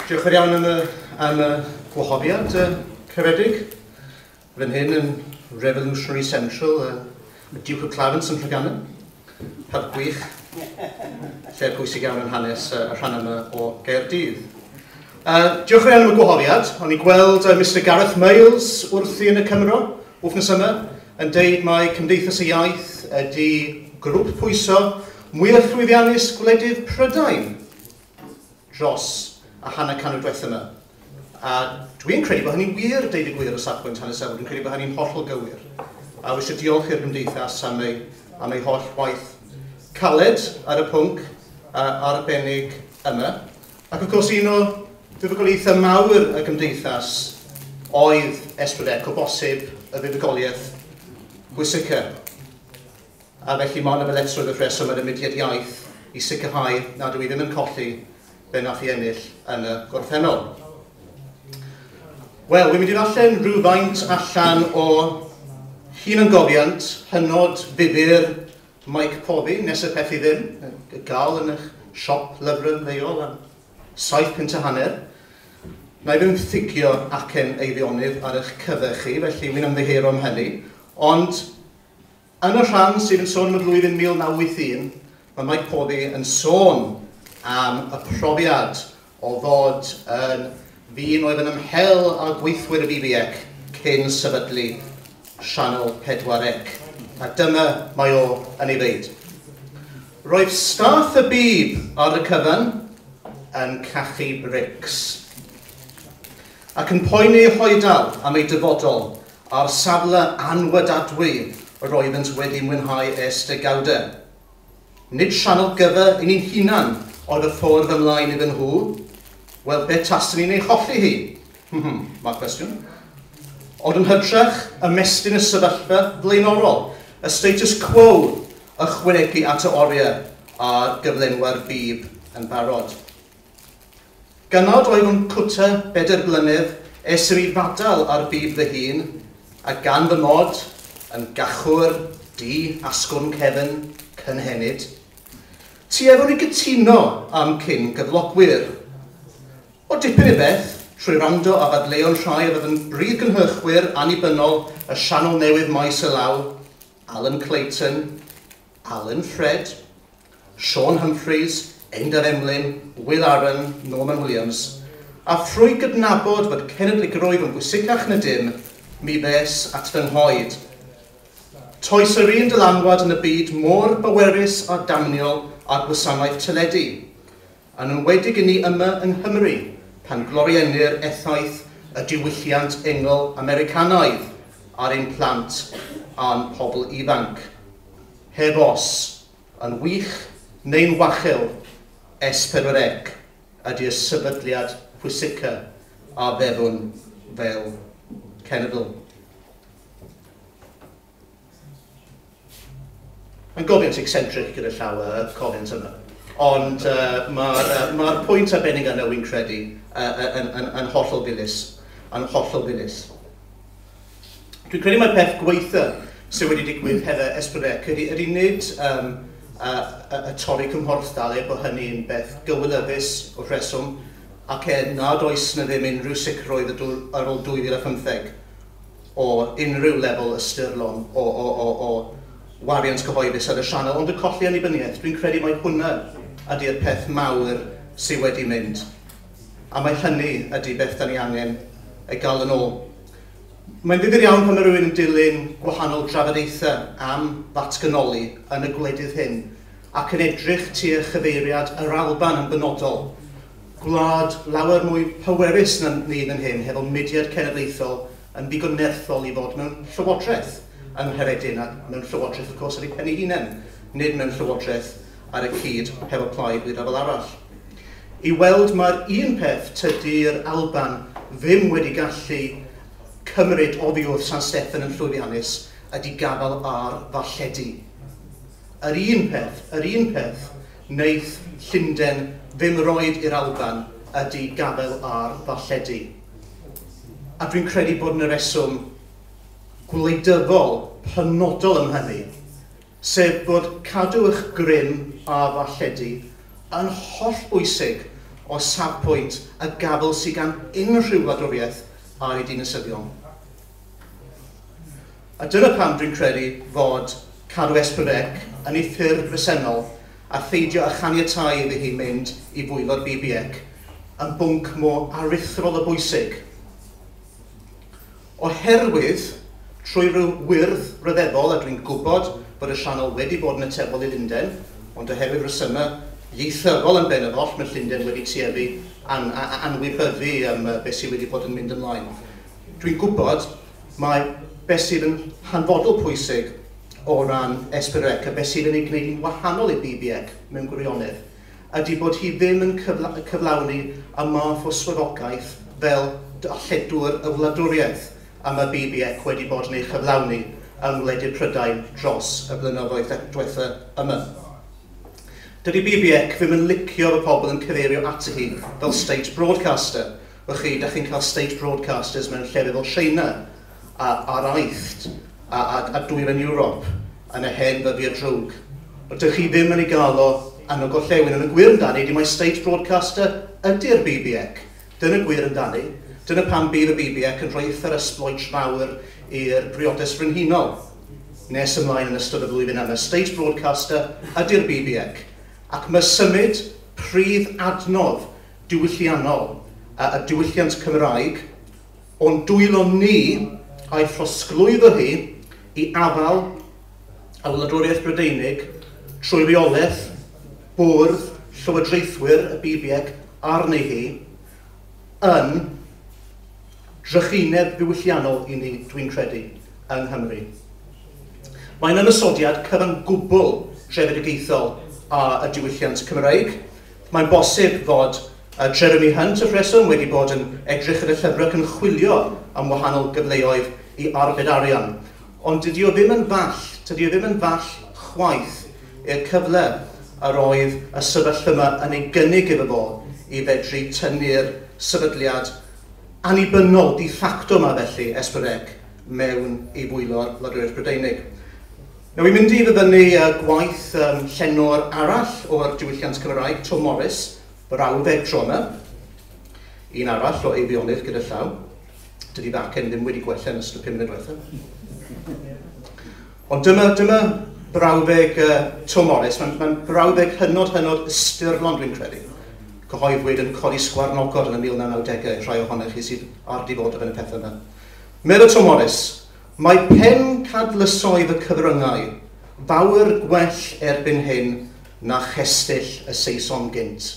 Diolch yn iawn am y, am y gwahoddiad uh, crefedig. Fy hyn yn Revolutionary Central, uh, Duke of Clarence yn Rhyganyn. Heb gwych, lle pwysig iawn yn hanes uh, y rhan yma o Gaerdydd. Yy, diolch yn fawr am y gwahoddiad. O'n i gweld yy Mister Gareth Miles wrthi yn y Cymro wthnos yma yn deud mae Cymdeithas y Iaith ydi grwp pwyso mwyaf llwyddiannus gwledydd Prydain dros y hanner canrif dwetha yma. A dwi'n credu bod hynny'n wir, deud y gwir, o safbwynt hanesyddol. Dwi'n credu bod hynny'n hollol gywir. A wisio diolch i'r Gymdeithas am ei, am ei holl waith caled ar y pwnc uh, arbennig yma. Ac wrth gwrs, un o fuddugoliaethau mawr y gymdeithas oedd Esbydec, o bosib y fuddugoliaeth bwysica. A felly mae hon yn ddyletswydd wrth reswm ar y mudiad iaith i sicrhau nad yw i ddim yn colli be nath i ennill yn y gorffennol. Wel, wi'n mynd i ddarllen rhywfaint allan o hunangofiant hynod ddifyr Mike Corby, nes y peth i ddim, y gal yn eich siop lyfrau ymddeol am saith punt a hanner. Wna i ddim thigio acen Eifionydd ar eich cyfer chi, felly wi'n ymddiheuro am hynny. Ond, yn y rhan sydd yn sôn am y flwyddyn 1981, mae Mike Corby yn sôn am y profiad o ddod yn ddyn oedd yn ymhel â gweithwyr y BBEC cyn sefydlu Sianel 4C, a dyma mae o yn ei ddeud. Roedd staff y bib ar y cyfan yn cachu brics ac yn poeni hoedal am ei dyfodol a'r safle anwydadwy roeddent wedi mwynhau ers degawdau. Nid rhan o gyfer i ni'n hunan oedd y ffordd ymlaen iddyn nhw, wel be tasen ni'n ei cholli hi? Hm, mae'r cwestiwn. Ond yn hytrach, ymestyn y sefyllfa flaenorol, y status quo, ychwanegu at y oriau a'r gyflenwa'r bib yn barod. Gan nad oeddwn cwta bedair blynedd es i i fadal ar fyd fy hun, a gan fy mod yn gachwr du asgwrn cefn cynhenid, tueddwn i gytuno â'm cyn-gyflogwyr. O dipyn i beth, trwy wrando ar ddadleuon rhai oedd yn brif gynhyrchwyr annibynnol y sianel newydd Maes y Law, Alan Clayton, Alun Ffred, Siôn Humphreys, Einder Emlyn, Wil Aaron, Norman Williams, a thrwy gydnabod fod cenedligrwydd yn bwysicach na dim, mi ddes at fy nghoed. Toes yr un dylanwad yn y byd mor bwerus a damniol â'r gwasanaeth teledu. Yn enwedig i ni yma yng Nghymru, pan gloriennir effaith y diwylliant engl Americanaidd ar ein plant a'n pobl ifanc. Heb os, yn wych neu'n wachel, S4C ydi'r sefydliad pwysica a feddwn fel cenedl. Mae'n gofyn sy'n eccentric gyda llaw y comment yma. Ond uh, mae'r uh, ma pwynt arbennig yna, wy'n credu, uh, yn, yn, yn hollol ddilys. Yn hollol ddilys. Dwi'n credu mae'r peth gweitha sydd wedi digwydd hefo Esbrec ydy, ydy nid um, a, a, a torri cymhorthdal er bod hynny'n beth gywilyddus o rheswm ac er nad oes na ddim unrhyw sicrwydd ar ôl 2015. o unrhyw lefel ystyrlon o, o, o, o wariant cyhoeddus ar y sianel, ond y colli annibyniaeth, dwi'n credu mai hwnna ydy'r peth mawr sydd wedi mynd, a mai hynny ydy beth da ni angen ei gael yn ôl. Mae'n ddifyr iawn pan mae rhywun yn dilyn gwahanol drafodaethau am ddatganoli yn y gwledydd hyn ac yn edrych tua chyfeiriad yr Alban yn benodol, gwlad lawer mwy pwerus na ni fan hyn, hefo mudiad cenedlaethol yn ddigon nerthol i fod mewn llywodraeth yng Nghaeredin, ac mewn llywodraeth wrth gwrs ar ei phen ei hunain, nid mewn llywodraeth ar y cyd hefo plaid neu ryfel arall. I weld mae'r un peth tydi'r Alban ddim wedi gallu cymryd oddiwrth San Steffan yn llwyddiannus ydi gafael ar ddarlledu. Yr un peth, yr un peth, wneith Llunden ddim roid i'r Alban ydy gafael ar ddarlledu. A dwi'n credu bod yna reswm gwleidyddol penodol am hynny, sef bod cadw eich grym ar ddarlledu yn hollbwysig o safpwynt y gafael sydd gan unrhyw wladwriaeth ar ei dinasyddion. A dyna pam dwi'n credu fod cadw Esperec yn ei ffurf bresennol a pheidio â chaniatáu iddi hi mynd i bwyllgor BBEC yn bwnc mor aruthrol o bwysig. Oherwydd, trwy ryw wyrdd ryfeddol, a dwi'n gwybod bod y sianel wedi bod yn atebol i Lunden, ond oherwydd resymau ieithyddol yn ben yr oll, mae Llundain wedi tueddu an, a, a anwybyddu um, beth sydd wedi bod yn mynd ymlaen. Dwi'n gwybod mai beth sydd yn hanfodol pwysig o ran Esperec a beth sydd yn ei gwneud hi'n wahanol i BBEC mewn gwirionedd ydy bod hi ddim yn cyflawni y math o swyddogaeth fel darlledwr y wladwriaeth y mae BBEC wedi bod yn ei chyflawni yng ngwledydd Prydain dros y blynyddoedd diwetha' yma. Dydy BBEC ddim yn licio fy pobl yn cyfeirio ati hi fel state broadcaster, Wch chi, dach chi'n cael state broadcasters mewn llefydd fel China a araitht a, a, a dwyrain Ewrop yn y hen ddyddiau drwg. Ond dych chi ddim yn ei gael o yn y gorllewin. Yn y gwir amdani, di mae state broadcaster ydy'r BBEC. Dyna gwir amdani. Dyna pam bydd y BBEC yn rhoi eithr esbloet fawr i'r briodes frenhinol nes ymlaen yn ystod y flwyddyn yma. State broadcaster ydy'r BBEC. Ac mae symud pridd adnodd diwylliannol a a diwylliant Cymraeg, o'n dwylo ni a'i throsglwyddo hi i afael ar wladwriaeth Brydeinig trwy reolaeth bwrdd llywodraethwyr y BBEC arni hi, yn drychineb ddiwylliannol i ni, dwi'n credu, yng Nghymru. Mae'n ymosodiad cyfan gwbl trefedigaethol a a diwylliant Cymraeg. Mae'n bosib fod Jeremy Hunt y rheswm wedi bod yn edrych yn y llyfr ac yn chwilio am wahanol gyfleoedd i arbed arian, ond dydy o ddim yn fall, tydy o ddim yn fall chwaith i'r cyfle yr oedd y sefyllfa yma yn ei gynnig iddo fo i fedru tynnu'r sefydliad annibynnol de facto yma felly, Esperec, mewn i fwylo'r Wladwriaeth Brydeinig. Nawn ni fynd i ddyfynnu gwaith llenor arall o'r diwylliant Cymraeg, Twm Morys, brawddeg tro yma. Un arall o Eifionydd gyda llaw. Dydy fy acen ddim wedi gwella yn ystod y pum munud diwetha'. Ond dyma, dyma brawddeg uh, Twm Morys. Mae'n mae brawddeg hynod, hynod ystyrlon, dwi'n credu. Cyhoeddwyd yn codi sgwarnogod yn y 1990au, rhai ohonych chi sydd ar di fod o fewn y pethau yma. Meddwl Twm Morys, Mae pencadlysoedd y cyfryngau fawr gwell erbyn hyn na chestyll y Saeson gynt.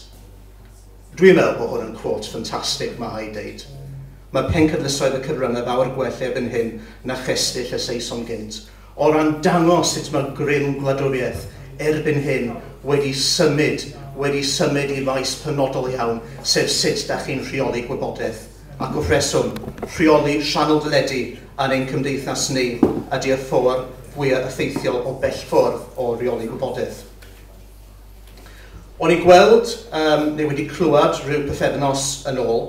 Dwi'n meddwl bod hwn yn quote ffantastig, mae rhaid deud. Mae pencadlysoedd y cyfryngau fawr gwell erbyn hyn na chestyll y Saeson gynt, o ran dangos sut mae'r grym gwladwriaeth erbyn hyn wedi symud, wedi symud i faes penodol iawn, sef sut 'da chi'n rheoli gwybodaeth. ac o'r rheswm, rheoli rhannol deledu yn ein cymdeithas ni ydy y ffordd fwyaf effeithiol o bellfwrdd o reoli gwybodaeth. O'n i'n gweld, um, neu wedi clywed rhyw pythefnos yn ôl,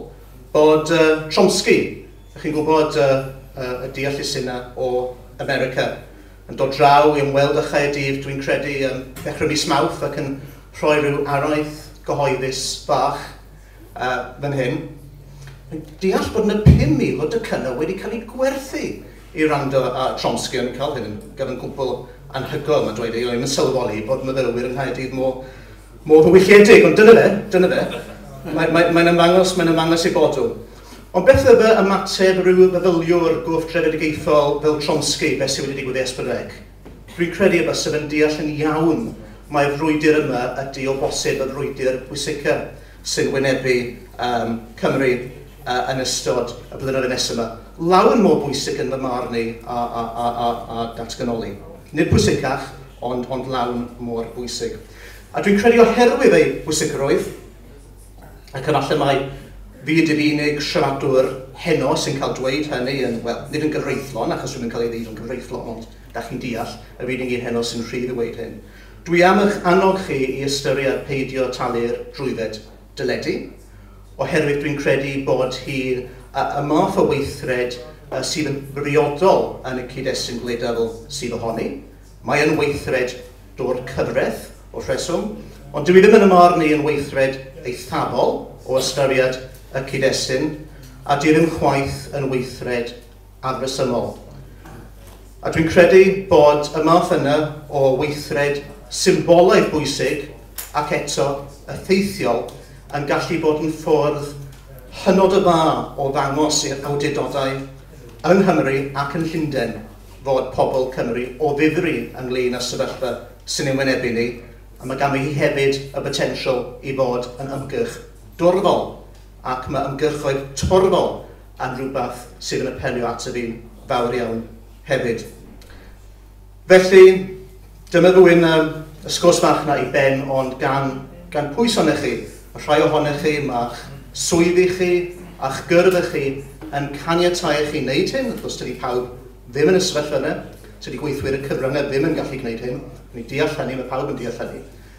bod uh, Chomsky, ych chi'n gwybod uh, uh, y deallusydd yna o America, yn dod draw i ymweld â Chaerdydd, dwi'n credu, um, ddechrau mis Mawrth ac yn rhoi rhyw araith gyhoeddus fach fan hyn, deall bod yna 5,000 o docynnau wedi cael eu gwerthu i wrando ar Chomsky yn y cyfan, yn gyfan gwbl anhygoel, mae'n dweud ei hun, yn sylweddoli bod myfyrwyr yng Nghaerdydd mor, mor ddiwylliedig, ond dyna fe, dyna fe. Mae'n mae, mae ymangos, mae'n ymangos ei bod nhw. Ond beth oedd y ymateb rhyw feddyliwr gwrth-drefedigaethol fel Chomsky, beth sydd wedi digwydd i Esbydreg? Rwy'n credu y byswn yn deall yn iawn mai'r frwydr yma ydy o bosib y frwydr pwysica sy'n wynebu um, Cymru uh, yn ystod y blynyddoedd nesaf yma. Lawer mor bwysig yn fy marn i a, a, a, a, a datganoli. Nid pwysicach, ond, ond lawn mor bwysig. A dwi'n credu oherwydd ei bwysigrwydd, Ac efallai mai fi ydy'r unig siaradwr heno sy'n cael dweud hynny yn, wel, nid yn gyfreithlon, achos rwy'n cael ei ddeud yn gyfreithlon, ond da chi'n deall, yr unig un heno sy'n rhydd i weud hyn. Dwi am eich annog chi i ystyried peidio talu'r drwydded deledu, oherwydd dwi'n credu bod hi y math o weithred sydd yn briodol yn y cyd-destun gwleidyddol sydd ohoni. Mae yn weithred dwr cyfreth o'r rheswm, ond dyw hi ddim yn ymorn i yn weithred eithafol o ystyried y cyd-destun, a dyw ddim chwaith yn weithred afresymol. A dwi'n credu bod y math yna o weithred symbolaidd bwysig ac eto effeithiol yn gallu bod yn ffwrdd hynod o dda o ddangos i'r awdurdodau yng Nghymru ac yn Llundain fod pobl Cymru o ddifri ynglŷn â'r sefyllfa sy'n ein wynebu ni, a mae ganddi hi hefyd y botensial i fod yn ymgyrch dorfol, ac mae ymgyrchoedd torfol yn rhywbeth sydd yn apelio ato fi'n fawr iawn hefyd. Felly, Dyna ddwyn yr ysgwrs fach 'na i ben ond gan gan pwy sonech chi? Ma' rhai ohonech chi, ma'ch swyddi chi a'ch gyrfa chi yn caniatáu i chi wneud hyn, wrth gwrs tydi pawb ddim yn y sefyllfa yna, tydi gweithwyr y cyfryngau ddim yn gallu gwneud hyn, dwi'n deall hynny, ma' pawb yn deall hynny.